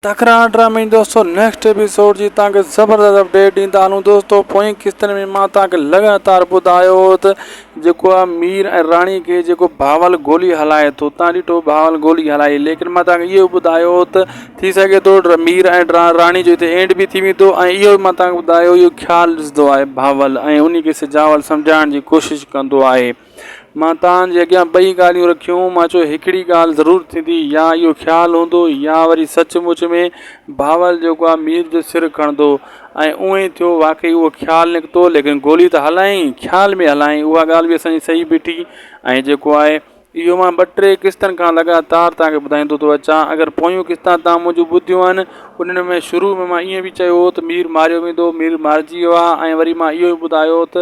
تڪرار ڊرامي دوستو نيڪسٽ ايپيسوڊ جي تان کي زبردست اپڊيٽ ڏيندا هلون دوستو پوئين قسطن ۾ مان تان کي لڳاتار ٻڌايو هو ته جيڪو آ مير ۽ راڻي کي جيڪو باول گولي هلائي ٿو تان ڏٺو باول گولي هلائي ليڪن مان تان کي اهو ٻڌايو هو ته ٿي سگهي ٿو مير ۽ راڻي جو هتي اينڊ به ٿي ويندو ۽ اهو مان تان کي ٻڌايو اهو خيال ڏسندو آهي باول ۽ انهي کي سجاول سمجهائڻ جي ڪوشش ڪندو آهي مان توهان جي اڳيان ٻئي ڳالهيون رکيون. مان چيو هڪڙي ڳالهه ضرور ٿيندي، يا اهو خيال هوندو يا وري سچ مچ ۾ بهاول جيڪو آهي مير جو سر کڻندو. ۽ ايئن ئي ٿيو. واقعي اهو خيال نڪتو، ليڪن گولي ته هلائين، خيال ۾ هلائين، اها ڳالهه به اسان جي صحيح بيٺي. ۽ جيڪو آهي اهو مان ٻه ٽي قسطن کان لڳاتار توهان کي ٻڌائيندو ٿو اچان. اگر پويون قسطان توهان منهنجون ٻڌيون آهن، انهن ۾ شروع ۾ مان ائين به چيو هو ته مير ماريو ويندو، مير مارجي ويو آهي ۽ وري مان اهو به ٻڌايو هو ته،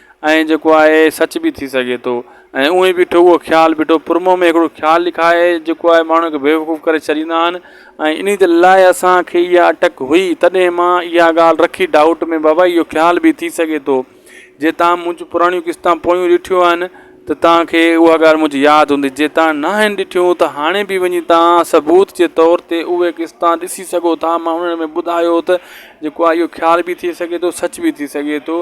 ائين جيڪو آهي سچ به ٿي سگهي ٿو ۽ اونهي بيٺو اهو خيال بيٺو پرمون ۾ هڪڙو خيال لکائي جيڪو آهي ماڻهو کي بيوقوف ڪري ڇڏيندا آهن ۽ انهي دل لاء اسان کي اها اٽڪ هئي تڏهن مان اها ڳالهه رکي ڊائوٽ ۾ بابا اهو خيال به ٿي سگهي ٿو جي تان منهنجون پراڻيون قسطان پويون ڏٺيون آهن ته تان کي اها ڳالهه منهنجي ياد هوندي جي تان نه آهن ڏٺيون ته هاڻي به وڃي تان ثبوت جي طور تي اهي قسطان ڏسي سگهو ٿا مان انهن ۾ ٻڌايو ته جيڪو آهي اهو خيال به ٿي سگهي ٿو سچ به ٿي سگهي ٿو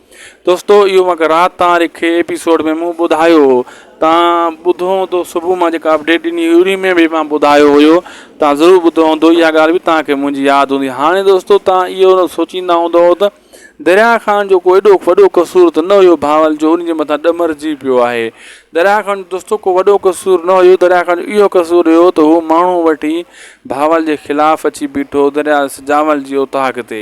دوستو اهو مکه رات تان رکي ايپيسوڊ ۾ مون ٻڌايو هو تان ٻڌو هوندو صبح مان جيڪا اپڊيٽ ڏني هئي انهي ۾ به مان ٻڌايو هيو تان ضرور ٻڌو هوندو اها ڳالهه به تان کي منهنجي ياد هوندي هاڻي دوستو تان اهو نه سوچيندا هوندو ته دريا خان جو ڪو ايڏو وڏو قصور ته نه هيو ڀاول جو انهي جي مٿان ڏمرجي پيو آهي دريا خان دوستو ڪو وڏو قصور نه هيو دريا خان جو اهو قصور هيو ته هو ماڻهو وٺي ڀاول جي خلاف اچي بيٺو دريا سجاول جي اوطاق تي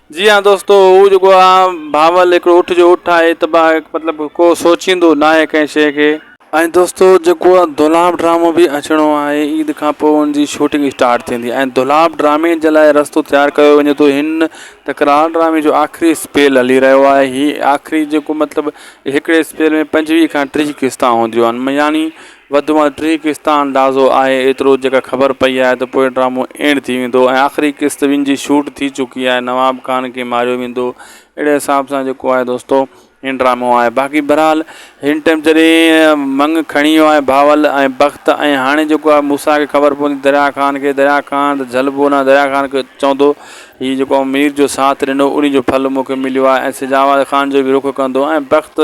جي ها دوستو هو جيڪو آ بهاول هڪڙو اٺ جو اٺ آهي ته با مطلب ڪو سوچيندو ناهي ڪنهن شيء کي. ۽ دوستو جيڪو آ دولاب ڊرامو به اچڻو آهي عيد کان پوء ان جي شوٽنگ اسٽارٽ ٿيندي ۽ دولاب ڊرامي جي لاء رستو تيار ڪيو وڃي ٿو هن تڪرار ڊرامي جو آخري اسپيل هلي رهيو آهي هي آخري جيڪو مطلب هڪڙي اسپيل ۾ پنجويهه کان ٽيهه قسطان هونديون آهن يعني وڌ ۾ وڌ ٽي قسط آهن اندازو آهي ايترو جيڪا خبر پئي آهي ته پوء ڊرامو اينڊ ٿي ويندو ۽ آخري قسط ٻن جي شوٽ ٿي چڪي آهي نواب خان کي ماريو ويندو اهڙي حساب سان جيڪو آهي دوستو هي ڊرامو آهي باقي بهرحال هن ٽائيم جڏهن منگ کڻي ويو آهي بهاول ۽ بخت ۽ هاڻي جيڪو آهي موسيٰ کي خبر پوندي دريا خان کي دريا خان ته جهلبو نه دريا خان کي چوندو هي جيڪو مير جو ساٿ ڏنو انهي جو ڦل مون کي مليو آهي ۽ سجاواد خان جو به رخ ڪندو ۽ بخت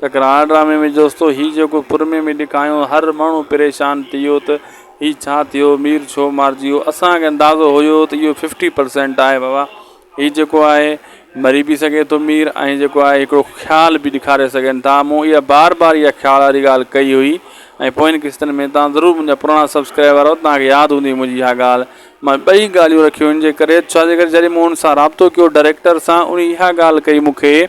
ته ڪراڻ ڊرامي ۾ جوستو هي جيڪو پرمي ۾ ڏيکايون هر ماڻهو پريشان ٿي ويو ته هي ڇا ٿيو مير ڇو مارجي ويو اسان کي اندازو هيو ته اهو ففٽي پرسينٽ آهي بابا هي جيڪو آهي مري به سگهي ٿو مير ۽ جيڪو آهي هڪڙو خيال به ڏيکاري سگهن ٿا مون اها بار بار اها خيال واري ڳالهه ڪئي هئي ۽ پوين قسطن ۾ تان ضرور منهنجا پراڻا سبسڪرائبر آهيو تان کي ياد هوندي منهنجي اها ڳالهه مان ٻئي ڳالهيون رکيون ان جي ڪري ڇا جي ڪري جڏهن مون ان سان رابطو ڪيو ڊائريڪٽر سان ان اها ڳالهه ڪئي مون کي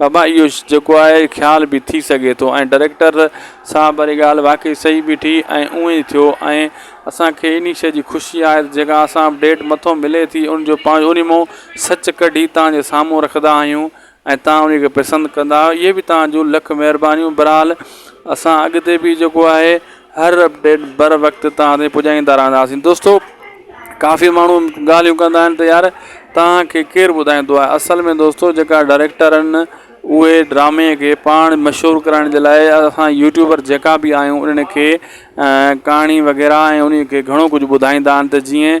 بابا اهو جيڪو آهي خيال به ٿي سگهي ٿو ۽ ڊريڪٽر صاحب واري ڳالهه واقعي صحيح بيٺي ۽ اونئي ٿيو ۽ اسان کي انهي شيء جي خوشي آهي ته جيڪا اسان اپڊيٽ مٿو ملي ٿي ان جو پاڻ اونهي مون سچ ڪڍي توهان جي سامهون رکندا آهيون ۽ توهان انهي کي پسند ڪندا اهي به توهان جون لک مهربانيون برحال اسان اڳتي به جيڪو آهي هر اپڊيٽ بر وقت توهان تائين پڄائيندا رهنداسين دوستو ڪافي ماڻهو ڳالهيون ڪندا آهن ته يار توهان کي ڪير ٻڌائيندو آهي اصل ۾ دوستو جيڪا ڊائريڪٽر آهن اهي ڊرامي کي پاڻ مشهور ڪرائڻ جي لاء اسان يوٽيوبر جيڪا بي آهيون انهن کي ڪهاڻي وغيره ۽ انهي کي گهڻو ڪجهه ٻڌائيندا آهن ته جيئن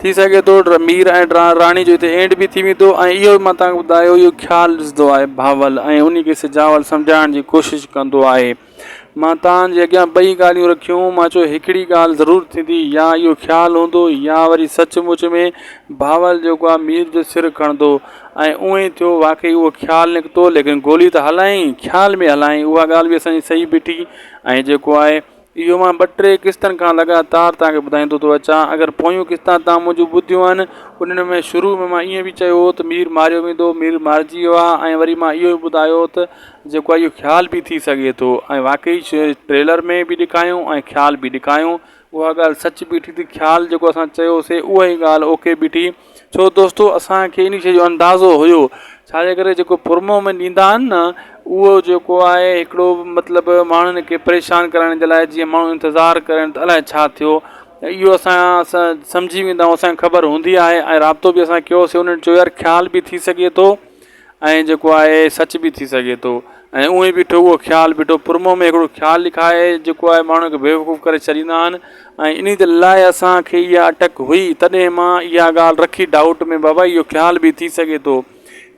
ٿي سگهي ٿو مير ۽ راڻي جو هتي اينڊ به ٿي ويندو ۽ اهو مان توهان کي ٻڌايو اهو خيال ڏسندو آهي بهاول ۽ انهي کي سجاول سمجهائڻ جي ڪوشش ڪندو آهي مان توهان جي اڳيان ٻئي ڳالهيون رکيون مان چيو هڪڙي ڳالهه ضرور ٿيندي يا اهو خيال هوندو يا وري سچ مچ ۾ بهاول جيڪو آهي مير جو سر کڻندو ۽ اهو ئي ٿيو واقعي اهو خيال نڪتو ليڪن گولي ته هلائين خيال ۾ هلائين اها ڳالهه به اسان جي صحيح بيٺي ۽ جيڪو آهي اهو مان ٻه ٽي قسطن کان لڳاتار توهان کي ٻڌائيندو ٿو اچان اگر پويون قسطان توهان منهنجون ٻڌيون آهن انهن ۾ شروع ۾ مان ائين به چيو هو ته مير ماريو ويندو مير مارجي ويو آهي ۽ وري مان اهو به ٻڌايو هو ته جيڪو آهي اهو خيال به ٿي سگهي ٿو ۽ واقعي ٽريلر ۾ به ڏيکايو ۽ خيال به ڏيکايو اها ڳالهه سچ بيٺي ته خيال جيڪو اسان چيوسي اهو ئي ڳالهه اوڪي بيٺي ڇو دوستو اسان کي انهي شي جو اندازو هيو ڇاجي ڪري جيڪو پر منهن ۾ ڏيندا آهن نه اهو جيڪو آهي هڪڙو مطلب ماڻهن کي پريشان ڪرڻ جي لاء جيئن ماڻهو انتظار ڪرن ته الائي ڇا ٿيو ۽ اهو اسان اسان سمجهي ويندا آهيون اسان کي خبر هوندي آهي ۽ رابطو بي اسان ڪيوسي انهن چيو يار خيال بي ٿي سگهي ٿو ائين جيڪو آهي سچ به ٿي سگهي ٿو ۽ اونهي بيٺو اهو خيال بيٺو پرمون ۾ هڪڙو خيال لکائي جيڪو آهي ماڻهو کي بيوقوف ڪري ڇڏيندا آهن ۽ انهي دل لاء اسان کي اها اٽڪ هئي تڏهن مان اها ڳالهه رکي ڊائوٽ ۾ بابا اهو خيال به ٿي سگهي ٿو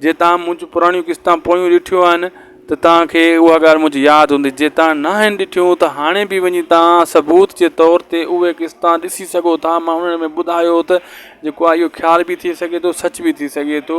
جي تان منهنجون پراڻيون قسطان پويون ڏٺيون آهن ته تان کي اها ڳالهه منهنجي ياد هوندي جي تان نه آهن ڏٺيون ته هاڻي به وڃي تان ثبوت جي طور تي اهي قسطان ڏسي سگهو ٿا مان انهن ۾ ٻڌايو ته جيڪو آهي اهو خيال به ٿي سگهي ٿو سچ به ٿي سگهي ٿو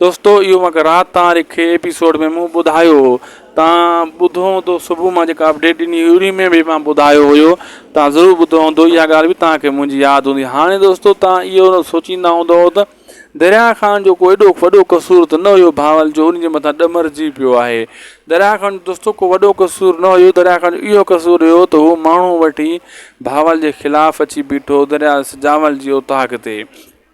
دوستو اهو مانکي رات تان رکي ايپيسوڊ ۾ مون ٻڌايو هو تان ٻڌو هوندو صبح مان جيڪا اپڊيٽ ڏني هئي انهي ۾ به مان ٻڌايو هيو تان ضرور ٻڌو هوندو اها ڳالهه به تان کي منهنجي ياد هوندي هاڻي دوستو تان اهو سوچيندا هوندو ته دريا خان جو ڪو ايڏو وڏو قصور ته نه هيو بهاول جو انهي جي مٿان ڏمرجي پيو آهي دريا خان دوستو ڪو وڏو قصور نه هيو دريا خان جو اهو قصور هيو ته هو ماڻهو وٺي بهاول جي خلاف اچي بيٺو دريا سجاول جي اوطاق تي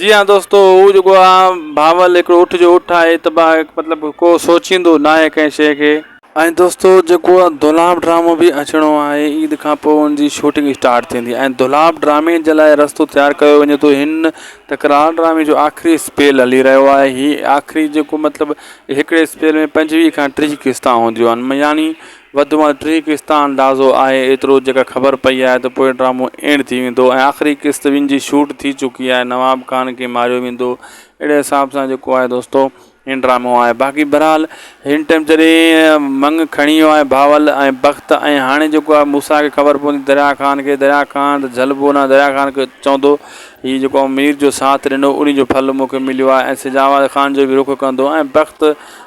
جي ها دوستو هو جيڪو آ بهاول هڪڙو اٺ جو اٺ آهي ته با مطلب ڪو سوچيندو ناهي ڪنهن شي کي. ۽ دوستو جيڪو آ دولاب ڊرامو به اچڻو آهي عيد کان پوء ان جي شوٽنگ اسٽارٽ ٿيندي ۽ دولاب ڊرامي جي لاء رستو تيار ڪيو وڃي ٿو هن تڪرار ڊرامي جو آخري اسپيل هلي رهيو آهي هي آخري جيڪو مطلب هڪڙي اسپيل ۾ پنجويهه کان ٽيهه قسطان هونديون آهن يعني وڌ ۾ وڌ ٽي قسط آهن اندازو آهي ايترو جيڪا خبر پئي آهي ته پوء ڊرامو اينڊ ٿي ويندو ۽ آخري قسط وين جي شوٽ ٿي چڪي آهي نواب خان کي ماريو ويندو اهڙي حساب سان جيڪو آهي دوستو هي ڊرامو آهي باقي بھرحال هن ٽيم جڏهن منگ کڻي ويو آهي بھاول ۽ بخت ۽ هاڻي جيڪو آهي موسا کي خبر پوندي دريا خان کي دريا خان ته جھلبو نه دريا خان کي چوندو هي جيڪو مير جو ساٿ ڏنو انهي جو ڦل مون کي مليو آهي ۽ سجاواد خان جو به رخ ڪندو ۽ بخت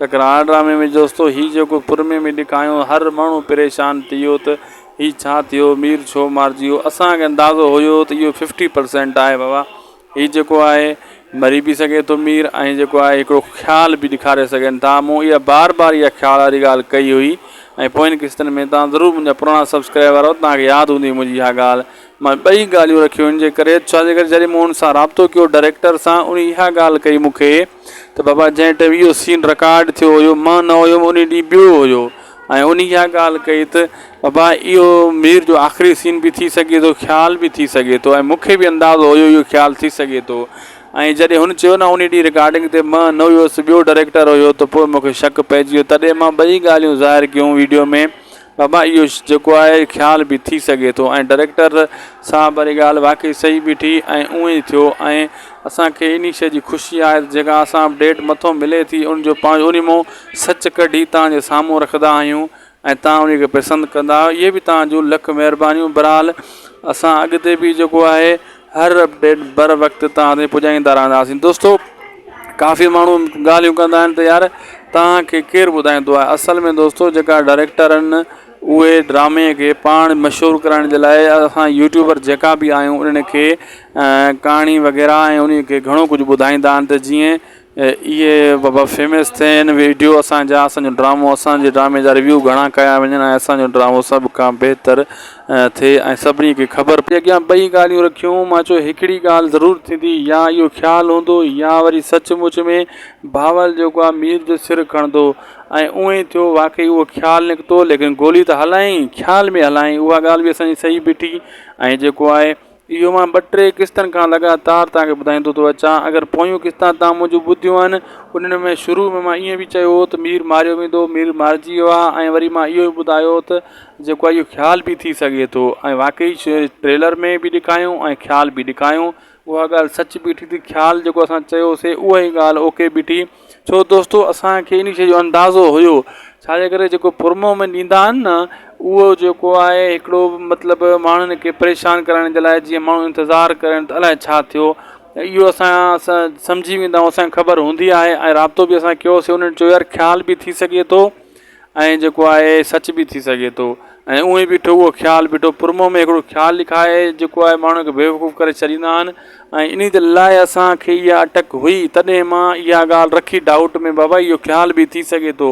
ڪڪران ڊرامي ۾ جوستو هي جيڪو پرمي ۾ ڏيکايون هر ماڻهو پريشان ٿي ويو ته هي ڇا ٿيو مير ڇو مارجي ويو اسان کي اندازو هيو ته اهو ففٽي پرسينٽ آهي بابا هي جيڪو آهي مري به سگهي ٿو مير ۽ جيڪو آهي هڪڙو خيال به ڏيکاري سگهن ٿا مون اها بار بار اها خيال واري ڳالهه ڪئي هئي ۽ پوين قسطن ۾ توهان ضرور منهنجا پراڻا سبسڪرائبر آهيو توهان کي ياد هوندي منهنجي اها ڳالهه مان ٻئي ڳالهيون رکيون ان جي ڪري ڇا جي ڪري جڏهن مون ان سان رابطو ڪيو ڊائريڪٽر سان ان اها ڳالهه ڪئي مون کي ته بابا جنهن ٽيم اهو سين رڪارڊ ٿيو هيو مان نه هيم ان ڏينهن ٻيو هيو ۽ ان اها ڳالهه ڪئي ته بابا اهو مير جو آخري سين به ٿي سگهي ٿو خيال به ٿي سگهي ٿو ۽ مونکي به اندازو هيو اهو خيال ٿي سگهي ٿو ۽ جڏهن هن چيو نه ان ڏينهن رڪارڊنگ تي مان نه هيس ٻيو ڊائريڪٽر هيو ته پوء مونکي شڪ پئجي ويو تڏهن مان ٻئي ڳالهيون ظاهر ڪيون ويڊيو ۾ بابا اهو جيڪو آهي خيال به ٿي سگهي ٿو ۽ ڊريڪٽر صاحب واري ڳالهه واقعي صحيح بيٺي ۽ اونئي ٿيو ۽ اسان کي انهي شيء جي خوشي آهي ته جيڪا اسان اپڊيٽ مٿو ملي ٿي ان جو پاڻ انهي مون سچ ڪڍي توهان جي سامهون رکندا آهيون ۽ توهان انهي کي پسند ڪندا اهي به توهان جون لک مهربانيون برحال اسان اڳتي به جيڪو آهي هر اپڊيٽ بر وقت توهان تائين پڄائيندا رهنداسين دوستو ڪافي ماڻهو ڳالهيون ڪندا آهن ته يار توهان کي ڪير ٻڌائيندو آهي اصل ۾ دوستو جيڪا ڊائريڪٽر آهن اهي ڊرامي کي پاڻ مشهور ڪرائڻ جي لاء اسان يوٽيوبر جيڪا بي آهيون انهن کي ڪهاڻي وغيره ۽ انهي کي گهڻو ڪجهه ٻڌائيندا آهن ته جيئن اهي بابا فيمس ٿين ويڊيو اسان جا اسانجو ڊرامو اسانجي ڊرامي جا ريويو گهڻا ڪيا وڃن ۽ اسانجو ڊرامو سڀ کان بهتر ٿئي ۽ سڀني کي خبر پئي اڳيان ٻئي ڳالهيون رکيون مان چيو هڪڙي ڳالهه ضرور ٿيندي يا اهو خيال هوندو يا وري سچ مچ ۾ بهاول جيڪو آهي مير جو سر کڻندو ۽ اونهي ئي ٿيو واقعي اهو خيال نڪتو ليڪن گولي ته هلايائين خيال ۾ هلايائين اها ڳالهه به اسانجي صحيح بيٺي ۽ جيڪو آهي اهو مان ٻه ٽي قسطن کان لڳاتار توهان کي ٻڌائيندو ٿو اچان اگر پويون قسطان توهان منهنجون ٻڌيون آهن انهن ۾ شروع ۾ مان ائين به چيو هو ته مير ماريو ويندو مير مارجي ويو آهي ۽ وري مان اهو به ٻڌايو هو ته جيڪو آهي اهو خيال به ٿي سگهي ٿو ۽ واقعي ٽريلر ۾ به ڏيکايون ۽ خيال به ڏيکايون اها ڳالهه سچ بيٺي ته خيال جيڪو اسان چيوسي اهي ڳالهه اوڪي بيٺي ڇو دوستو اسان کي انهي شي جو اندازو هيو ڇاجي ڪري جيڪو پر منهن ۾ ڏيندا آهن نه اهو جيڪو آهي هڪڙو مطلب ماڻهن کي پريشان ڪرڻ جي لاء جيئن ماڻهو انتظار ڪرن ته الائي ڇا ٿيو ۽ اهو اسان اسان سمجهي ويندا آهيون اسان کي خبر هوندي آهي ۽ رابطو بي اسان ڪيوسي انهن چيو يار خيال بي ٿي سگهي ٿو ائين جيڪو آهي سچ به ٿي سگهي ٿو ۽ اونهي بيٺو اهو خيال بيٺو پرمون ۾ هڪڙو خيال لکائي جيڪو آهي ماڻهو کي بيوقوف ڪري ڇڏيندا آهن ۽ انهي دل لاء اسان کي اها اٽڪ هئي تڏهن مان اها ڳالهه رکي ڊائوٽ ۾ بابا اهو خيال به ٿي سگهي ٿو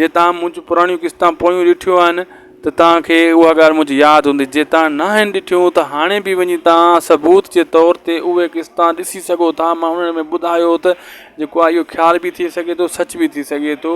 جي تان منهنجون پراڻيون قسطان پويون ڏٺيون آهن ته تان کي اها ڳالهه منهنجي ياد هوندي جي تان نه آهن ڏٺيون ته هاڻي به وڃي تان ثبوت جي طور تي اهي قسطان ڏسي سگهو ٿا مان انهن ۾ ٻڌايو ته جيڪو آهي اهو خيال به ٿي سگهي ٿو سچ به ٿي سگهي ٿو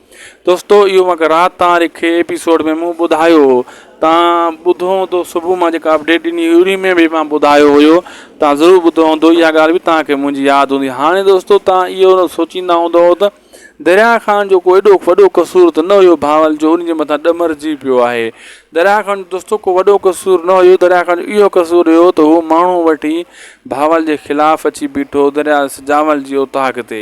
دوستو اهو مکه رات توهان رکي ايپيسوڊ ۾ مون ٻڌايو هو توهان ٻڌو هوندو صبح مان جيڪا اپڊيٽ ڏني هئي انهي ۾ به مان ٻڌايو هيو توهان ضرور ٻڌو هوندو اها ڳالهه به توهان کي منهنجي ياد هوندي هاڻي دوستو توهان اهو سوچيندا هوندو ته دريا خان جو ڪو ايڏو وڏو قصور ته نه هيو بهاول جو انهي جي مٿان ڏمرجي پيو آهي دريا خان دوستو ڪو وڏو قصور نه هيو دريا خان جو اهو قصور هيو ته هو ماڻهو وٺي بهاول جي خلاف اچي بيٺو دريا سجاول جي اوطاق تي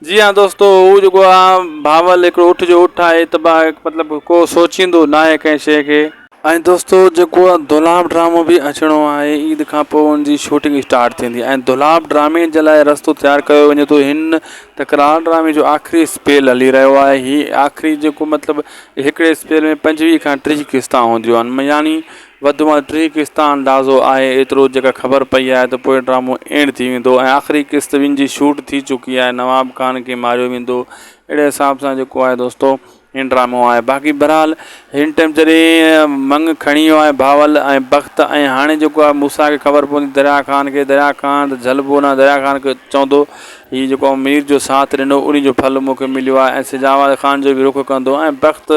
جي ها دوستو هو جيڪو آ بهاول هڪڙو اٺ جو اٺ آهي ته با مطلب ڪو سوچيندو ناهي ڪنهن شي کي. ۽ دوستو جيڪو آ دولاب ڊرامو به اچڻو آهي عيد کان پوء ان جي شوٽنگ اسٽارٽ ٿيندي ۽ دولاب ڊرامي جي لاء رستو تيار ڪيو وڃي ٿو هن تڪرار ڊرامي جو آخري اسپيل هلي رهيو آهي هي آخري جيڪو مطلب هڪڙي اسپيل ۾ پنجويهه کان ٽيهه قسطان هونديون آهن يعني وڌ ۾ وڌ ٽي قسطا اندازو آهي ايترو جيڪر خبر پئي آهي ته پوء ڊرامو اينڊ ٿي ويندو ۽ آخري قسط وين جي شوٽ ٿي چڪي آهي نواب خان کي ماريو ويندو اهڙي حساب سان جيڪو آهي دوستو هي ڊرامو آهي باقي بھرحال هن ٽيم جڏهن منگ کڻي ويو آهي بھاول ۽ بخت ۽ هاڻي جيڪو آهي موسا کي خبر پوندي دريا خان کي دريا خان ته جھلبو نه دريا خان کي چوندو هي جيڪو مير جو ساٿ ڏنو انهي جو ڦل مون کي مليو آهي ۽ سجاواد خان جو به رخ ڪندو ۽ بخت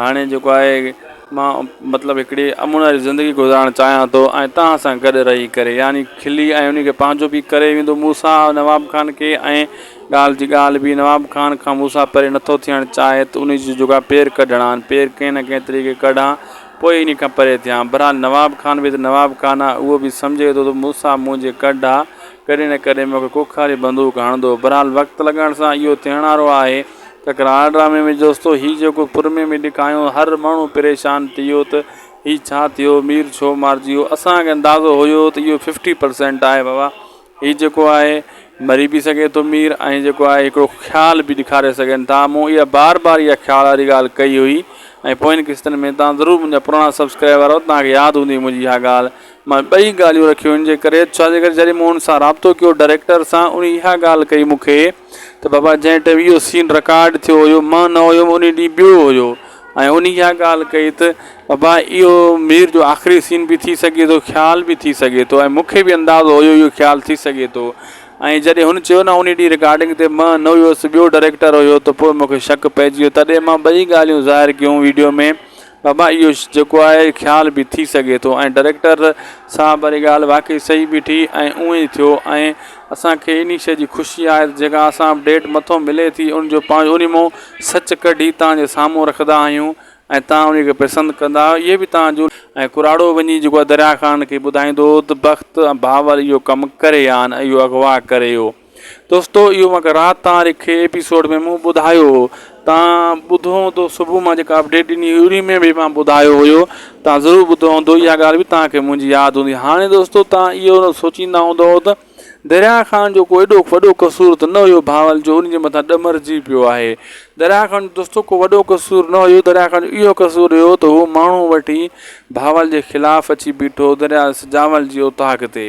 هاڻي جيڪو آهي مان مطلب هڪڙي امن واري زندگي گذارڻ چاهيان ٿو ۽ توهان سان گڏ رهي ڪري يعني کلي ۽ انهي کي پنهنجو به ڪري ويندو مون سان نواب خان کي ۽ ڳالهه جي ڳالهه به نواب خان کان مون سان پري نٿو ٿيڻ چاهي ته انهي جي جيڪو آهي پير ڪڍڻا آهن پير ڪنهن نه ڪنهن طريقي ڪڍان پوء انهي کان پري ٿيان بهرحال نواب خان به ته نواب خان آهي اهو به سمجهي ٿو ته مون سان منهنجي ڪڍ آهي ڪڏهن نه ڪڏهن مون کي ڪوکاري بندوق هڻندو بهرحال وقت لڳڻ سان اهو ٿيڻ وارو آهي ڪڪران ڊرامي ۾ جوستو هي جيڪو پرمي ۾ ڏيکايون هر ماڻهو پريشان ٿي ويو ته هي ڇا ٿيو مير ڇو مارجي ويو اسان کي اندازو هيو ته اهو ففٽي پرسينٽ آهي بابا هي جيڪو آهي مري به سگهي ٿو مير ۽ جيڪو آهي هڪڙو خيال به ڏيکاري سگهن ٿا مون اها بار بار اها خيال واري ڳالهه ڪئي هئي ۽ پوين قسطن ۾ توهان ضرور منهنجا پراڻا سبسڪرائبر آهيو توهان کي ياد هوندي منهنجي اها ڳالهه مان ٻئي ڳالهيون رکيون ان جي ڪري ڇا جي ڪري جڏهن مون ان سان رابطو ڪيو ڊائريڪٽر سان ان اها ڳالهه ڪئي مون کي ته بابا جنهن ٽائيم اهو سين رڪارڊ ٿيو هيو مان نه هيم ان ڏينهن ٻيو هيو ۽ ان اها ڳالهه ڪئي ته بابا اهو مير جو آخري سين به ٿي سگهي ٿو خيال به ٿي سگهي ٿو ۽ مونکي به اندازو هيو اهو خيال ٿي سگهي ٿو ۽ جڏهن هن چيو نه ان ڏينهن رڪارڊنگ تي مان نه هيس ٻيو ڊائريڪٽر هيو ته پوء مونکي شڪ پئجي ويو تڏهن مان ٻئي ڳالهيون ظاهر ڪيون ويڊيو ۾ بابا اهو جيڪو آهي خيال به ٿي سگهي ٿو ۽ ڊريڪٽر صاحب واري ڳالهه واقعي صحيح بيٺي ۽ اونئي ٿيو ۽ اسان کي انهي شيء جي خوشي آهي ته جيڪا اسان اپڊيٽ مٿو ملي ٿي ان جو پاڻ اونهي مون سچ ڪڍي توهان جي سامهون رکندا آهيون ۽ توهان انهي کي پسند ڪندا آهيو اهي به توهان جو ۽ ڪراڙو وڃي جيڪو آهي دريا خان کي ٻڌائيندو ته بخت ۽ باور اهو ڪم ڪري هان اهو اغوا ڪري هو. دوستو اهو مانکي رات تان رکي ايپيسوڊ ۾ مون ٻڌايو هو تان ٻڌو هوندو صبح مان جيڪا اپڊيٽ ڏني هئي انهي ۾ به مان ٻڌايو هيو تان ضرور ٻڌو هوندو اها ڳالهه به تان کي منهنجي ياد هوندي هاڻي دوستو تان اهو سوچيندا هوندو ته دريا خان جو ڪو ايڏو وڏو قصور ته نه هيو بهاول جو انهي جي مٿان ڏمرجي پيو آهي دريا خان دوستو ڪو وڏو قصور نه هيو دريا خان جو اهو قصور هيو ته هو ماڻهو وٺي بهاول جي خلاف اچي بيٺو دريا سجاول جي اوطاق تي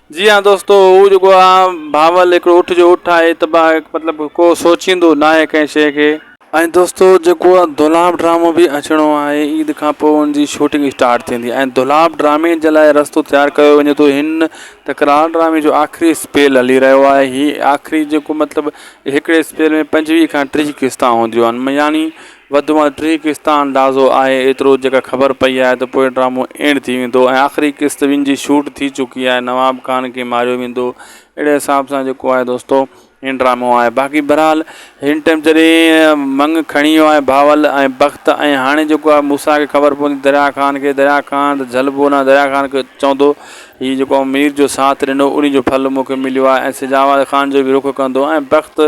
جي ها دوستو هو جيڪو آ بهاول هڪڙو اٺ جو اٺ آهي ته با مطلب ڪو سوچيندو ناهي ڪنهن شي کي. ۽ دوستو جيڪو آ دولاب ڊرامو به اچڻو آهي عيد کان پوء ان جي شوٽنگ اسٽارٽ ٿيندي ۽ دولاب ڊرامي جي لاء رستو تيار ڪيو وڃي ٿو هن تڪرار ڊرامي جو آخري اسپيل هلي رهيو آهي هي آخري جيڪو مطلب هڪڙي اسپيل ۾ پنجويهه کان ٽيهه قسطان هونديون آهن يعني وڌ ۾ وڌ ٽي قسط آهن اندازو آهي ايترو جيڪا خبر پئي آهي ته پوء ڊرامو اينڊ ٿي ويندو ۽ آخري قسط وين جي شوٽ ٿي چڪي آهي نواب خان کي ماريو ويندو اهڙي حساب سان جيڪو آهي دوستو هي ڊرامو آهي باقي بهرحال هن ٽائيم جڏهن منگ کڻي ويو آهي بهاول ۽ بخت ۽ هاڻي جيڪو آهي موسيٰ کي خبر پوندي دريا خان کي دريا خان ته جهلبو نه دريا خان کي چوندو هي جيڪو مير جو ساٿ ڏنو انهي جو ڦل مون کي مليو آهي ۽ سجاواد خان جو به رخ ڪندو ۽ بخت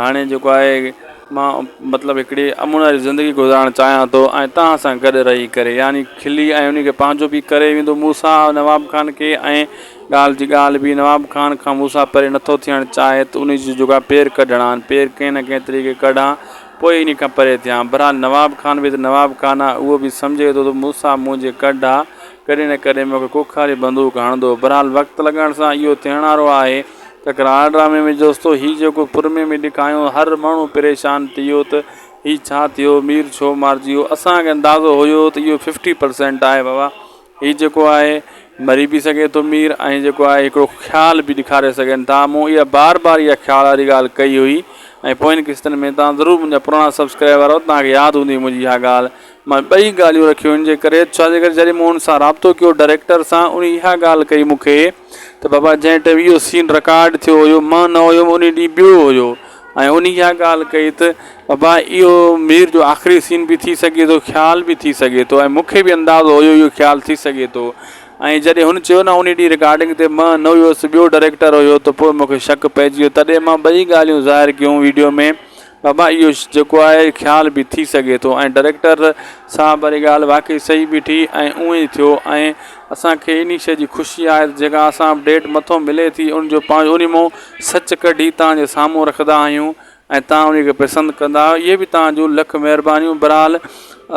هاڻي جيڪو آهي مان مطلب هڪڙي امن واري زندگي گذارڻ چاهيان ٿو ۽ توهان سان گڏ رهي ڪري يعني کلي ۽ انهي کي پنهنجو به ڪري ويندو مون سان نواب خان کي ۽ ڳالهه جي ڳالهه به نواب خان کان مون سان پري نٿو ٿيڻ چاهي ته انهي جي جيڪو آهي پير ڪڍڻا آهن پير ڪنهن نه ڪنهن طريقي ڪڍان پوء انهي کان پري ٿيان بهرحال نواب خان به ته نواب خان آهي اهو به سمجهي ٿو ته مون سان منهنجي ڪڍ آهي ڪڏهن نه ڪڏهن مون کي ڪوکاري بندوق هڻندو بهرحال وقت لڳڻ سان اهو ٿيڻ وارو آهي ته ڪراڙ ڊرامي ۾ جوستو هي جيڪو پرمي ۾ ڏيکايون هر ماڻهو پريشان ٿي ويو ته هي ڇا ٿيو مير ڇو مارجي ويو اسان کي اندازو هيو ته اهو ففٽي پرسينٽ آهي بابا هي جيڪو آهي مري به سگهي ٿو مير ۽ جيڪو آهي هڪڙو خيال به ڏيکاري سگهن ٿا مون اها بار بار اها خيال واري ڳالهه ڪئي هئي ۽ پوين قسطن ۾ توهان ضرور منهنجا پراڻا سبسڪرائبر آهيو توهان کي ياد هوندي منهنجي اها ڳالهه مان ٻئي ڳالهيون رکيون ان جي ڪري ڇا جي ڪري جڏهن مون ان سان رابطو ڪيو ڊائريڪٽر سان ان اها ڳالهه ڪئي مون کي ته بابا جنهن ٽيم اهو سين رڪارڊ ٿيو هيو مان نه هيم ان ڏينهن ٻيو هيو ۽ ان اها ڳالهه ڪئي ته بابا اهو مير جو آخري سين به ٿي سگهي ٿو خيال به ٿي سگهي ٿو ۽ مونکي به اندازو هيو اهو خيال ٿي سگهي ٿو ۽ جڏهن هن چيو نه ان ڏينهن رڪارڊنگ تي مان نه هيس ٻيو ڊائريڪٽر هيو ته پوء مونکي شڪ پئجي ويو تڏهن مان ٻئي ڳالهيون ظاهر ڪيون ويڊيو ۾ بابا اهو جيڪو آهي خيال به ٿي سگهي ٿو ۽ ڊريڪٽر صاحب واري ڳالهه واقعي صحيح بيٺي ۽ اونئي ٿيو ۽ اسان کي انهي شئي جي خوشي آهي ته جيڪا اسان اپڊيٽ مٿو ملي ٿي ان جو پاڻ انهي مون سچ ڪڍي توهان جي سامهون رکندا آهيون ۽ توهان انهي کي پسند ڪندا اهي به توهان جون لک مهربانيون برحال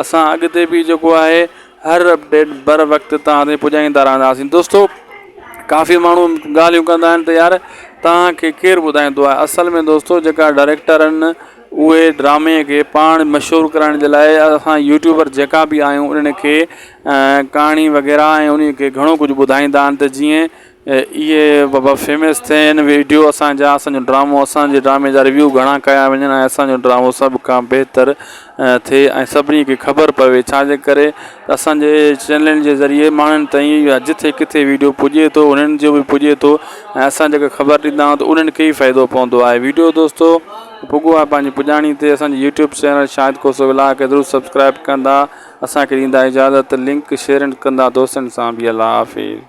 اسان اڳتي به جيڪو آهي هر اپڊيٽ بر وقت توهان تائين پڄائيندا رهنداسين دوستو ڪافي ماڻهو ڳالهيون ڪندا آهن ته يار توهان کي ڪير ٻڌائيندو آهي اصل ۾ دوستو جيڪا ڊائريڪٽر آهن اهي ڊرامي کي پاڻ مشهور ڪرائڻ جي لاء اسان يوٽيوبر جيڪا بي آهيون انهن کي ڪهاڻي وغيره ۽ انهي کي گهڻو ڪجهه ٻڌائيندا آهن ته جيئن اهي بابا فيمس ٿين ويڊيو اسان جا اسان جو ڊرامو اسان جي ڊرامي جا ريويو گهڻا ڪيا وڃن ۽ اسان جو ڊرامو سڀ کان بهتر ٿئي ۽ سڀني کي خبر پوي ڇا جي ڪري اسان جي چينلن جي ذريعي ماڻهن تائين يا جٿي ڪٿي ويڊيو پڄي ٿو انهن جو بي پڄي ٿو ۽ اسان جيڪا خبر ڏيندا آهيون ته انهن کي ئي فائدو پوندو آهي ويڊيو دوستو پڳو آهي پنهنجي پڄاڻي تي اسان جي يوٽيوب چينل شاهد کوسو ولاء کي ضرور سبسڪرائب ڪندا اسان کي ڏيندا اجازت لنڪ شيئر ڪندا دوستن سان بي الله حافظ